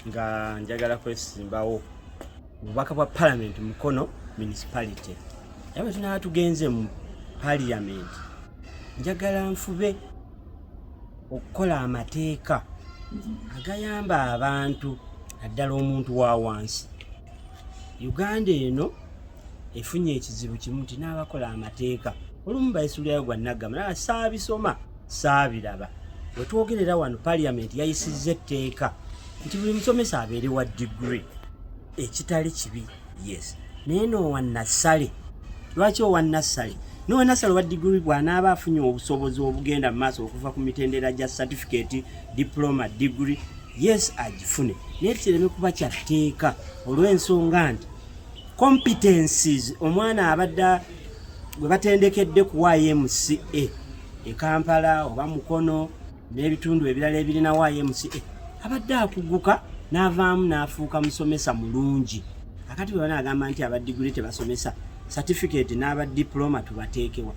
nga njagala kwesimbawo obubaka bwa parliament mukono municipality era bwe tunaba tugenze mu parliament njagala nfube okukola amateeka agayamba abantu naddala omuntu wa wansi uganda eno efunye ekizibu kimu nti n'abakola amateeka olumu baisuulirayo gwa nagamba naye saabisoma Saabiraba wetwogerera wano parliament yayisizza etteeka nti buli musomesa abeere wa degree ekitali kibi yes naye noowa nassale lwaki owa nassale noowa nassale owa degree bwanaaba afunye obusobozi obugenda mu maaso okuva ku mitendera gya certificate diploma degree yes agifune naye kireme kuba kyatteeka olw'ensonga nti competencies omwana abadde gwe batendekedde ku ymca e kampala oba mukono n'ebitundu ebirala ebirina ymca abadde akuguka n'avaamu n'afuuka musomesa mulungi akati bwe banaagamba nti aba diguli tebasomesa certificate n'aba diploma tubateekewa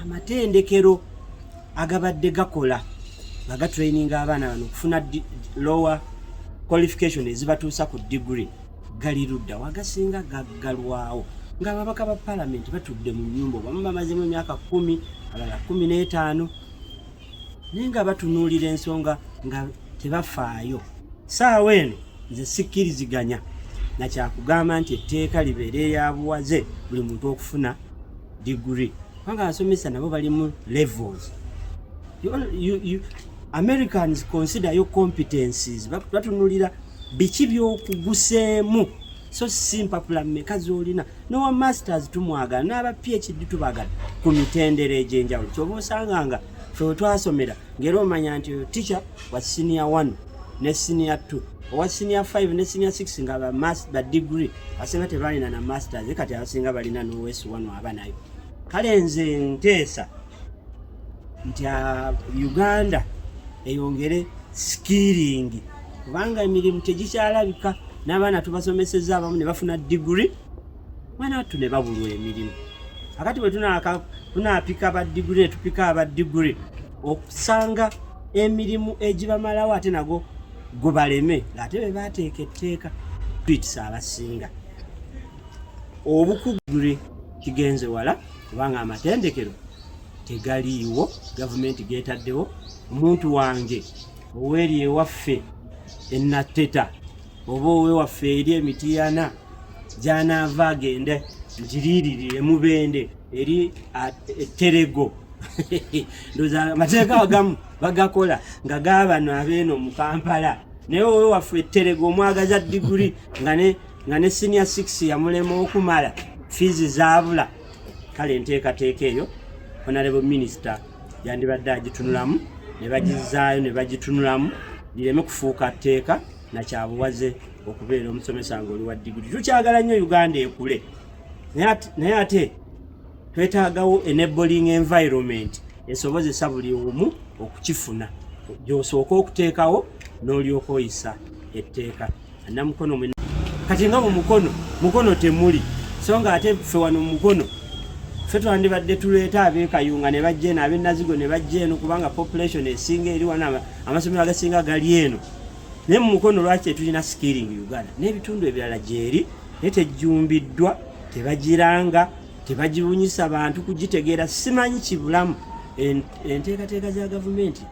amatendekero agabadde gakola nga gatraininga abaana bano okufuna lower qualification ezibatuusa ku degree gali ludda wagasinga gaggalwawo ng'ababaka ba palamenti batudde mu nyumba obamu bamazemu emyaka kumi alala kumi n'etaano naye nga batunuulira ensonga nga tebafaayo saawa eno nze sikkiriziganya na kyakugamba nti etteeka libeera eyabuwaze buli muntu okufuna digiri kubanga abasomesa nabo balimu levels americans consider yo competencies batunulira ba biki byokuguseemu so si mpapula mmeka zolina nowa masters tumwagala n'aba phd tubagala ku mitendera egy'enjawulo kyoba osanga nga fe wetwasomera ngaera omanya nti oyo ticha wa siniya 1 ne siniya 2 owa siniya 5 ne siniya 6 nga badigre asinga tebalina na masters kati abasinga balina nowesu 1 aba nayo kale nze nteesa nti ah, Uganda eyongere sikiringi kubanga emirimu tegikyalabika n'abaana tubasomeseza abamu ne bafuna diguri mwana wattu ne babulwa emirimu akati bwe tunaapika ba diguri ne tupika aba diguri okusanga emirimu egibamalawo ate nago gubaleme ng'ate be baateeka etteeka twitisa abasinga obukugure kigenze wala kubanga amatendekero tegaliiwo gavumenti getaddewo omuntu wange oweeri ewaffe enatteta oba owewaffe eri emitiyana gyanaava agende mukiriiriri emubende eri etterego ndoza amateeka agamu bagakola nga gabano abeeno mu kampala naye owewaffe etterego omwagaza diguli nga ne nga ne senior 6 yamulema okumala fiizi zaabula kale enteekateeka eyo honorable minister yandibadde agitunulamu ne bagizaayo ne bagitunulamu lireme kufuuka tteeka nakyabuwaze okubeera omusomesa nga oli wa diguli tukyagala nnyo uganda ekule naye ate twetaagawo enabling environment esobozesa buli omu okukifuna gyosooka okuteekawo n'olyoka oyisa etteeka namukono mwe kati nga mu mukono mukono temuli so nga ate ffe wano mu mukono ffe twandibadde tuleeta abekayunga ne bajja eno abenazigo ne bajja eno kubanga population esinga eri wano amasomero agasinga gali eno naye mu mukono lwaki tetulina skilling uganda n'ebitundu ebirala gyeri naye tejjumbiddwa tebagiranga tebagibunyisa bantu kugitegeera simanyi kibulamu enteekateeka za gavumenti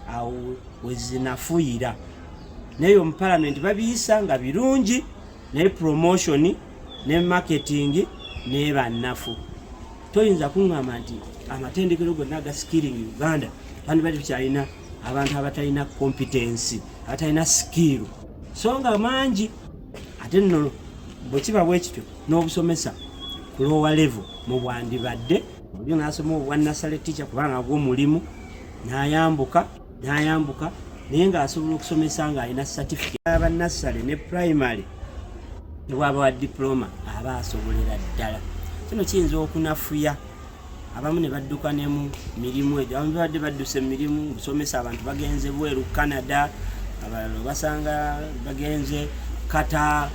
awo wezinafuyira naye omu palamenti babiyisa nga birungi naye promotion ne marketing naye bannafu toyinza kuŋŋamba nti amatendekero gonna aga skilling uganda bandibadde tukyalina abantu abatalina kompetensi abatalina sikiiru so nga mangi ate nno bwe kiba bwe kityo n'obusomesa ku loowa levo mu bwandibadde olyo n'asoma obwa nasale ticha kubanga gwo mulimu n'ayambuka n'ayambuka naye ng'asobola okusomesa ng'alina certificate aba nassale ne primary nebwaba wa diploma aba asobolera ddala kino kiyinza okunafuya abamu ne badduka ne mu mirimu egyo abamu babadde badduse mu mirimu okusomesa abantu bagenze bweru canada abalala obasanga bagenze kata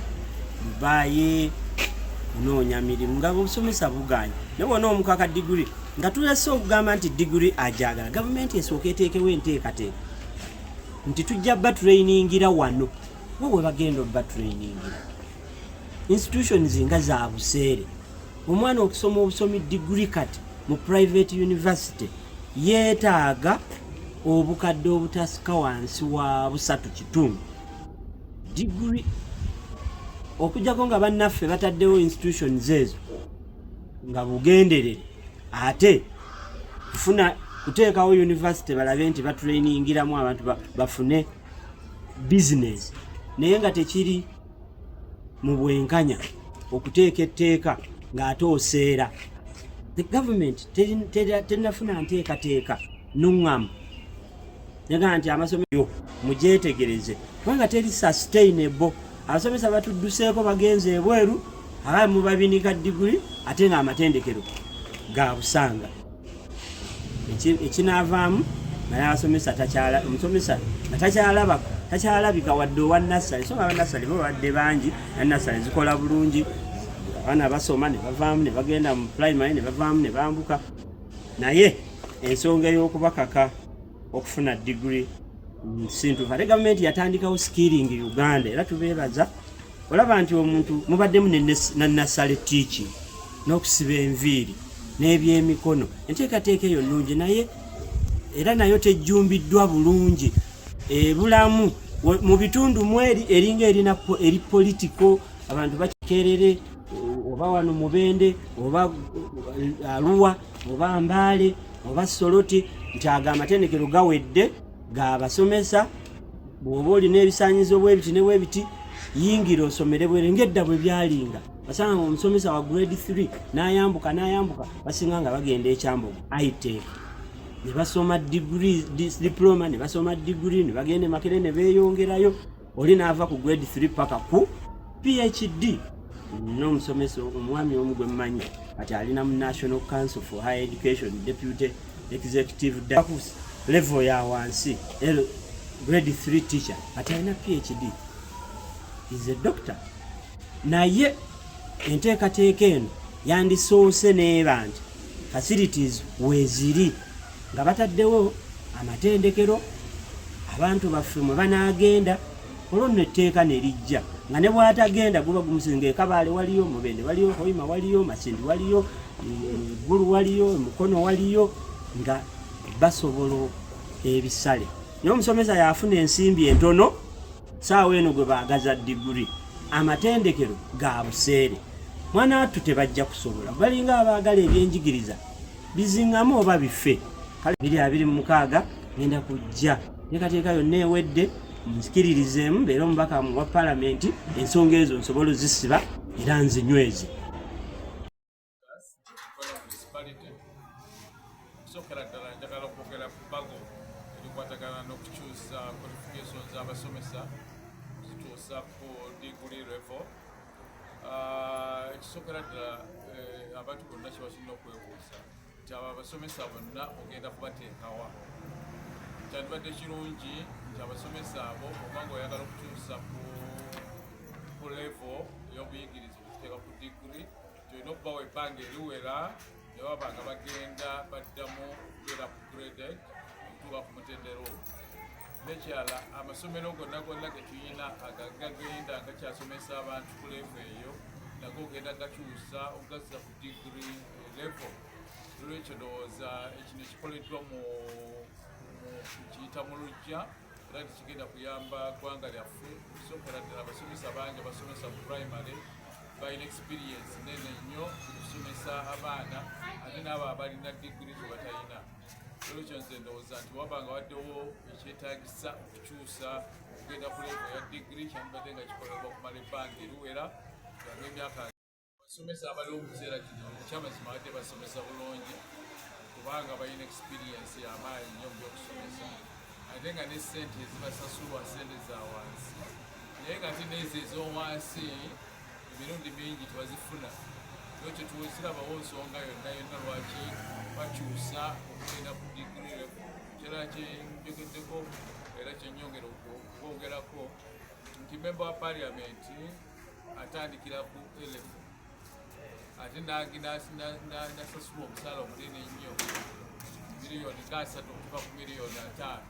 dubayi kunoonya mirimu nga obusomesa buganye naye bona omukaka digiri nga tulese okugamba nti digiri agyagala gavumenti esooka eteekewo enteekateeka nti tujja baturayiningira wano we we bagenda obaturayiningira institutions nga za buseere omwana okusoma obusomi digiri kati mu private university yeetaaga obukadde obutasika wansi wa busatu kitundu digiri okujjako nga bannaffe bataddewo institutions ezo nga bugenderere ate kufuna kuteekawo yunivasite balabe nti batrainingiramu abantu bafune bizinesi naye nga tekiri mu bwenkanya okuteeka etteeka ng'ate oseera the government terinafuna nteekateeka nuŋŋamu nyaga nti amasomero mugyetegereze kubanga teri sustainable abasomesa batudduseeko bagenze ebweru aba mubabinika diguli ate nga amatendekero ga busanga ekinaavaamu naye asomesa takyala omusomesa nga takyalaba takyalabika wadde owa nassale so aba nassale bo babadde bangi na nassale zikola bulungi abaana basoma ne bavaamu ne bagenda mu primary ne bavaamu ne bambuka naye ensonga ey'okubakaka okufuna digiri sintufu ate gavumenti yatandikawo skilling uganda era tubeebaza olaba nti omuntu mubaddemu nanasale tiiki n'okusiba enviiri n'ebyemikono enteekateeka eyo nnungi naye era nayo tejjumbiddwa bulungi ebulamu mu bitundu mweri eringa erina eri politiko abantu bakikerere oba wano mubende oba eh, aluwa oba mbaale oba soloti nti ago amatendekero gawedde gabasomesa bwoba olina ebisanyizo bwebiti ne bwebiti yingira osomere bwere ngedda bwe byalinga basanga nga omusomesa wa grade 3 nayambuka nayambuka basinga nga bagenda ekyambogo itech ne basoma diploma ne basoma digiri ne bagenda emakere ne beeyongerayo oli n'ava ku grade 3 paka ku phd n'omusomesa omwami omu gwe mmanyi kati alina mu national council for high education deputy executive dakus level ya wansi grade 3 teacher kati alina phd is a doctor naye enteekateeka eno yandisoose neeba nti facilities weeziri nga bataddewo amatendekero abantu baffe mwe banaagenda olwo nno etteeka ne lijja nga ne bw'atagenda guba gumusizi ng'ekabaale waliyo mubende waliyo hoima waliyo makindi waliyo eggulu waliyo mukono waliyo nga basobola ebisale naye omusomesa yafuna ensimbi entono saawa eno gwe baagaza diguri amatendekero ga buseere mwana wattu tebajja kusobola balinga abaagala ebyenjigiriza bizingamu oba bife kale biri abiri mu mukaaga ngenda kujja nekateeka yonna ewedde nzikiririzeemu mbeera omubaka wa palamenti ensonga ezo nsobola ozisiba era nzinyweze okusokera ddala njagala okwogera ku bago erikwatagana n'okukyusa qualification z'abasomesa zituusa ku diguli revo Ah, ekisookera ddala eh, abantu bonna kyebasinna okwebuuza nti abo abasomesa bonna ogenda kubateekawa kyandibadde kirungi nti abasomesa abo obanga oyagala okukyusa ku levo ey'obuyigiriza okuteeka ku digiri tolina okubawa ebbanga eriwera ne baba nga bagenda baddamu okubeera ku grade okutuuka ku mutendera ogwo nekyala amasomero gonna gonna getuyina agagagenda nga kyasomesa abantu ku levu eyo nago ogenda gakyusa ogazza ku digiri levo olwekyo ndowooza ekino ekikoleddwa mu kiyita mu lujja era tekigenda kuyamba ggwanga lyaffe okusokera ddala abasomesa bangi abasomesa mu primary balina experience nene nnyo okusomesa abaana ate naabo abalina digiri zebatalina olwekyo nze ndowooza nti waba nga waddewo ekyetagisa okukyusa okugenda ku levo ya digiri kyandibadde nga kikolebwa okumala ebbanga eriwera ganga emyaka basomesa abaliwo mukiseera kino ekyamazima badde basomesa bulungi kubanga balina experience yamaanyi nyo mu byokusomesa ate nga ne sente ezibasasulwa sente za wansi naye nga ate neezo ezowansi emirundi mingi tebazifuna kyo kyetuwekirabawo nsonga yonna yonna lwaki bakyusa okugenda ku digiri kira kyenjogeddeko era kyenyongera okwogerako nti memba wa paliamenti atandikira ku elefu ate nasasula omusaala omunene ennyo miliyoni nga asatu okuva ku miliyoni ataano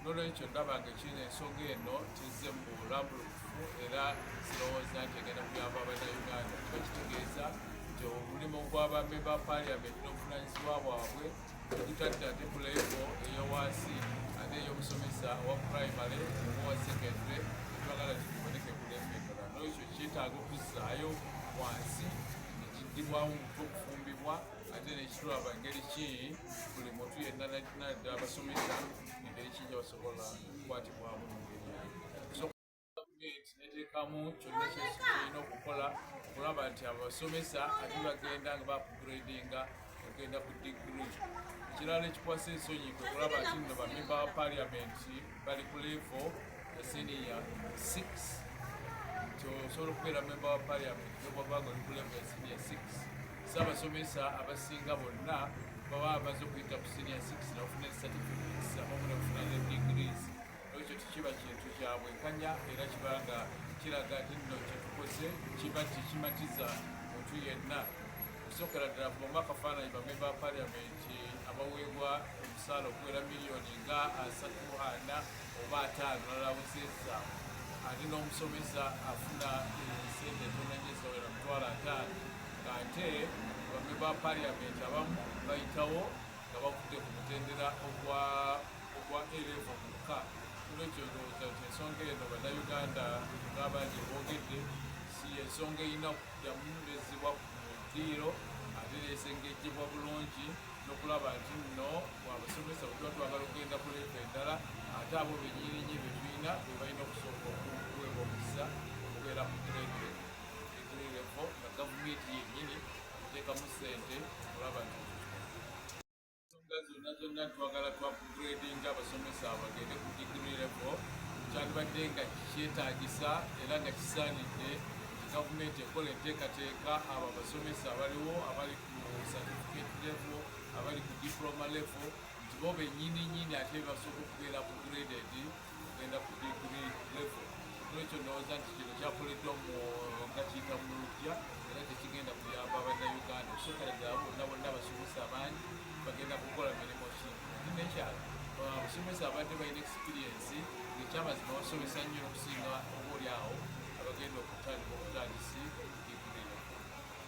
nolwekyo ndabanga ekiina ensonga eno kizze mu bulambulukufu era zirowooza nti egenda kuyamba abanauganda kiba kitegeeza nti omulimu gw'abamemba paliamenti n'obuvunanyizibwa bwabwe ogutadde ate ku levo eyowansi ate ey'omusomesa owa primary owa secondary etwagala kiboneke ku levo endala nolwekyo kyetaaga okuzzaayo wansi nekiddibwawo mutwe okufumbibwa ate nekitulaba engeri ki buli muntu yenna nadda abasomesa engeri ki gyebasobola okukwatibwamu mungeri gavumenti neteekamu kyonna kyesi kirina okukola okulaba nti abasomesa ate bagenda nga bakugradinga okugenda ku digiri ekirala ekikwasa ensonyi kwe kulaba nti nno bamemba ba paliamenti bali ku levo ya siniya 6 nti osobola okubeera memba wa paliamenti nobwabanga oli ku levo ya siniya 6 saabasomesa abasinga bonna baba bamaze okuyita ku siniya 6 nafuna certificates abamu nafuna ne degrees Ekyo tekiba kintu kya bwenkanya era kiba nga kiraga nti nno kye tukoze kiba kikimatiza muntu yenna okusookera ddala ku bamu akafaananyi bamemba ba paliamenti abaweebwa omusaala okuwera miliyoni nga asatu ana oba ataano nalawuzeza ate n'omusomesa afuna sente tonanyezawera mutwalo ataano ng'ate bamemba ba paliamenti abamu bayitawo nga bakudde ku mutendera ogwa ogwa erevo mukka kulwekyo ndowooza nti ensonga eno bannayuganda ng'abangi boogedde si ensonga erina yamunyumizibwa ku ddiiro ate neesengejjebwa bulungi nokulaba nti nno bwabasomesa bwetuba twagala okugenda ku leevu endala ate abo benyirinyi betulina bebalina okusooka okuweebwa omukisa okubeera ku grade egre levo nga gavumenti yennyini eteekamu ssente okulaba nti ensonga zonna zonna twagala twa upgrading abasomesa bagende ku degree level kyandibadde nga kyetaagisa era nga kisaanidde gavumenti ekola enteekateeka abo abasomesa abaliwo abali ku certificate level abali ku diploma level nti bo bennyini nyini ate basobola okubeera upgraded kugenda ku digiri levo nolwekyo ndowooza nti kino kyakoleddwa mu nga kiyita mu lujja era tekigenda kuyamba bannayuganda okusokera ddala bonna bonna abasomesa abangi bagenda kukola mirimu ki nekyalo abasomesa uh, abadde balina experiensi ngekyamazima basomesa nnyo okusinga oba oli awo abagenda okutandika obutandisi